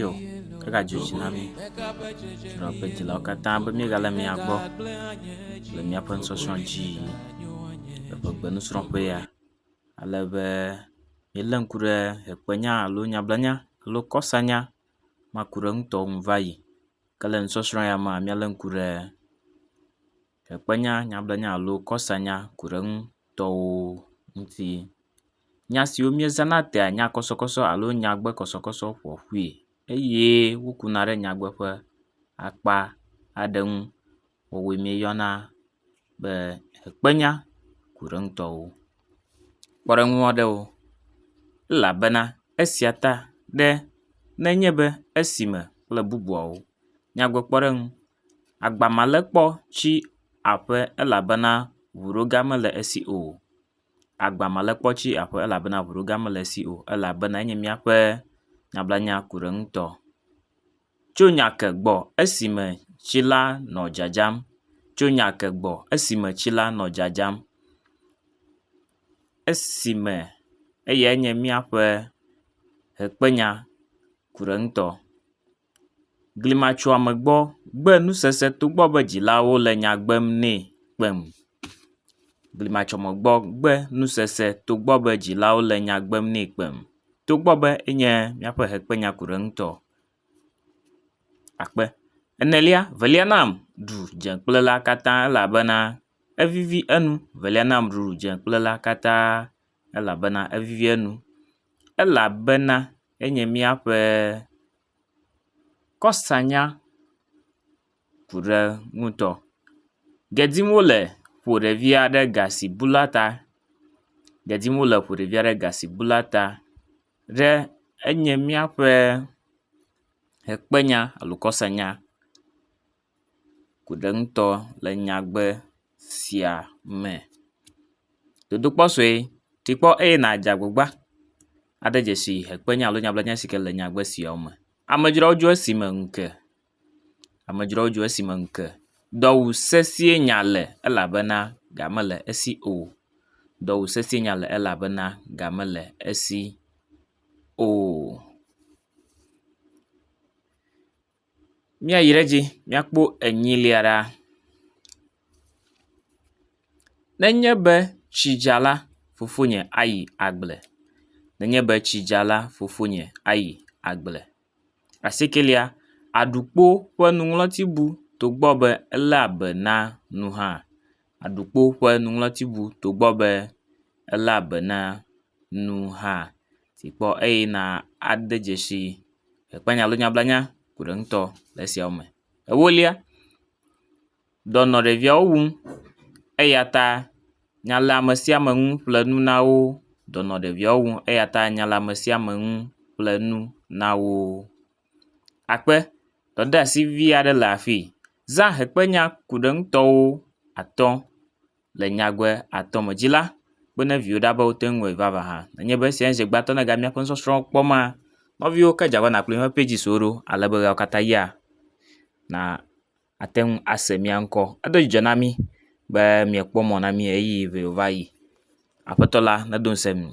Yo, egadzi dzi na mí, srɔ̃ kple dzilawo katã be míegale mia gbɔ le míaƒe nusɔsrɔ̃ dzi le ƒe gbe nusrɔ̃ƒe ya. Ale be míele ŋku ɖe ʋekpenya alo nyablanya alo kɔsanya makuɖeŋutɔwo ŋu va yi. Ke le nusɔsrɔ̃ ya mea míele ŋku ɖe. Ekpenya nyablanya alo kɔsanya ku ɖe eŋu tɔwo ŋuti. Nya siwo míezãna tea nya kɔsɔkɔsɔ alo nyagbe kɔsɔkɔsɔ ƒo ƒui eye wokuna ɖe nyagbe ƒe akpa aɖe ŋu. Woawoe míeyɔna be ekpenya ku ɖe eŋu tɔwo. Kpɔ ɖe eŋu aɖewo elabena esia ta ɖe nenye be esime kple bubuawo nyagbe kpɔɖeŋu Agba ma le kpɔ tsi aƒe elabena ŋuɖoga mele esi o. Agba ma le kpɔ tsi aƒe elabena ŋuɖoga mele esi o elabena enye míaƒe nyablanyakuriɖeŋutɔ. Tso nya ke gbɔ esime tsi la nɔ dzadzam, tso nya ke gbɔ esime tsi la nɔ dzadzam, esime eyae nye míaƒe ʋekpenya ku ɖe ŋutɔ. Glimatsoame gbɔ gbe nusese togbɔ be dzilawo le nya gbem nɛ kpem. Glimatsoame gbɔ gbe nusese togbɔ be dzilawo le nya gbem nɛ kpem. Togbɔ be enye míaƒe hekpenyakulaɖeŋutɔ akpe enelia velia nam ɖu dze kple la katã elabena evivi enu velia nam ɖu dze kple la katã. elabena evivia nu. Elabena enye míaƒe kɔsanya ku ɖe ŋutɔ. Gbe dim wo le ƒo ɖevi aɖe gasibula ta. Gbe dim wo le ƒo ɖevi aɖe gasibula ta ɖe enye míaƒe ʋekpenya alo kɔsanya. ku ɖe eŋutɔ le nyagbe sia me. Dodokpɔ sue, tikpɔ eye nàdze agbagba aɖe dzesi hekpe nya alo nyablanya si ke le nyagbe sia me. Amedzrowo dzo esime ŋu ke. Amedzrowo dzo esime ŋu ke. Dɔ wu sesĩe nya le elabena ga mele esi o. Dɔ wu sesĩe nya le elabena ga mele esi o. Míayi ɖe edzi míakpɔ enyilia ɖaa. Nenye be tsi dza la, fofonye ayi agble. Nenye be tsi dza la, fofonye ayi agble. Asiekelia, Aɖukpo ƒe nuŋlɔti bu togbɔ be eléa be na nu hã. Aɖukpo ƒe nuŋlɔti bu togbɔ be eléa be na. nu hã si kpɔ eye na ade dzesi akpanya alo nyablanya ko ɖe ŋutɔ le esiawo me. Ewolia, dɔ nɔ ɖeviawo wum eya ta nyaleamesiame ŋu ƒle nu na wo. Dɔ nɔ ɖeviawo wum eya ta nyaleamesiame ŋu ƒle nu na wo. Akpe, dɔdeasi vi aɖe le afii. Zã akpenya ku ɖe ŋutɔwo atɔ̃. Le nyagbe atɔ̃ me dzi la, kpe ɖe viwo ɖa be woate ŋu awɔe vavã hã. Nenye be esia nye ŋugbetɔ na míaƒe nusɔsrɔ̃wo kpɔ ma, nɔviwo ke dze agbagba nàkplɔ míaƒe pages wo ɖo ale be ɣeawo katã ʋlia na àte ŋu ase mía ŋkɔ. Edo dzidzɔ na mí be miekpɔ mɔ na mí ʋeyiʋi va yi. Aƒetɔ la nedo ŋusẽ mi.